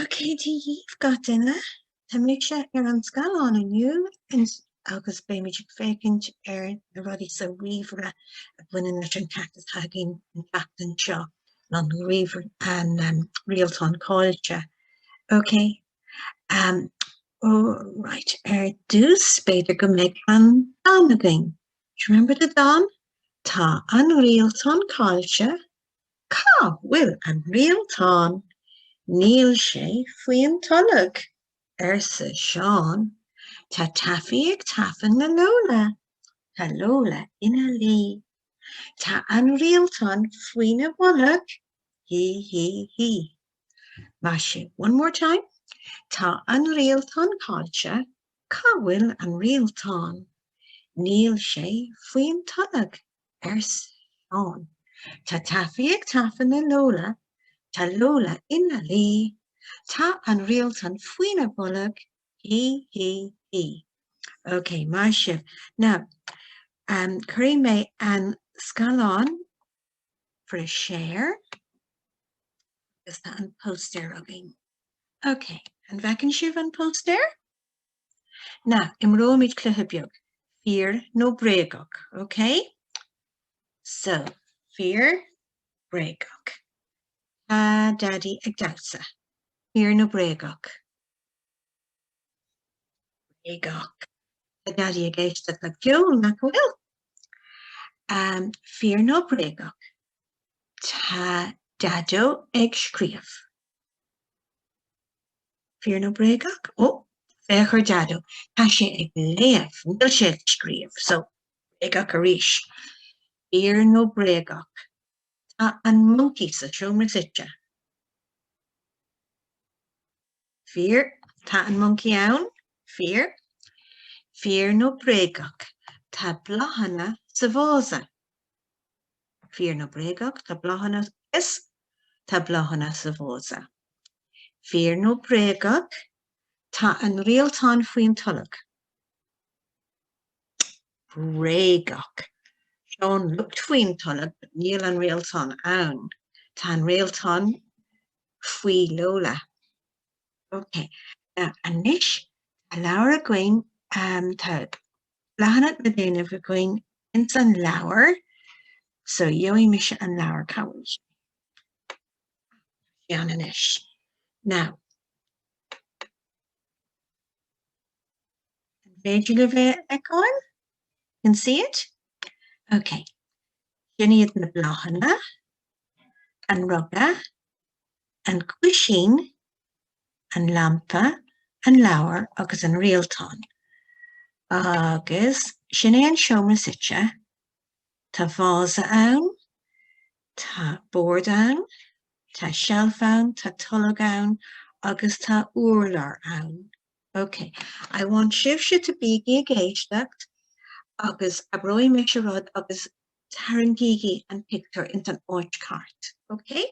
Ok, Dia daoibh gach duine, tá mise ar an scáileán inniu agus beimid ag féachaint ar na rudaí sa ríomhaire a bhaineann leis an ceacht atá againn an tseachtain seo, an Rialtán Caillte. Ok. Right, ar dtús b'fhéidir go mbeidh an dán againn. Do you remember the dán? Tá an Rialtán Caillte Cá bhfuil an rialtán? Níl sé faoin tolg, arsa Seán. Tá Tafaí ag tafann ar Lóla. Tá Lóla ina luí. Tá an rialtán faoina bholg. Hí hí hí. Maith sibh. One more time. Tá an rialtán caillte. Cá bhfuil an rialtán? Níl sé faoin tolg. arsa Seán. Tá Tafaí ag tafann ar Lóla, tá Lóla ina luí, tá an Rialtán faoina bholg, hí, hí, hí. Ok, maith sibh. Now, um, cuirfidh mé an scáileán for a share agus tá an póstaer againn. Ok, an bhfeiceann sibh an póstaer? Now, imreoimid cluiche beag, fíor nó bréagach, ok? So, fíor, bréagach. Tá Daidí ag damhsa, fíor nó bréagach? Bréagach. Tá Daidí ag éisteacht le ceol, nach bhfuil? Um, fíor nó bréagach? Tá Daideo ag scríobh, Fíor nó bréagach? Ó, féach ar Dhaideo, tá sé ag léamh, níl sé ag scríobh, so, bréagach arís. Fíor nó bréagach? Tá an moncaí sa seomra suite. Fíor, tá an moncaí ann. Fíor. Fíor nó bréagach? Tá bláthanna sa vása. Fíor nó bréagach, tá bláthanna is tá bláthanna sa vása. Fíor nó bréagach, tá an rialtán faoin tolg. Bréagach, sin luch faoin tolg but níl an rialtán ann. Tá an rialtán faoi Lóla. Ok, now anois tá leabhar againn, tá leathanach le déanamh againn ins an leabhar so gheobhaidh mise an leabhar cá bhfuil sé ann anois now an féidir libh é a fheiceáil? can see it? ok sin iad na bláthanna an ruga an cúisín an lampa, an leabhar agus an rialtán. Agus sin é an seomra suite. Tá vása ann, tá bord ann, tá seilf ann, tá tolg ann agus tá urlár ann. Ok, I want sibhse to bígí ag éisteacht agus abróidh mise rud agus tarraingígí an pictiúr ins an áit cheart. Ok?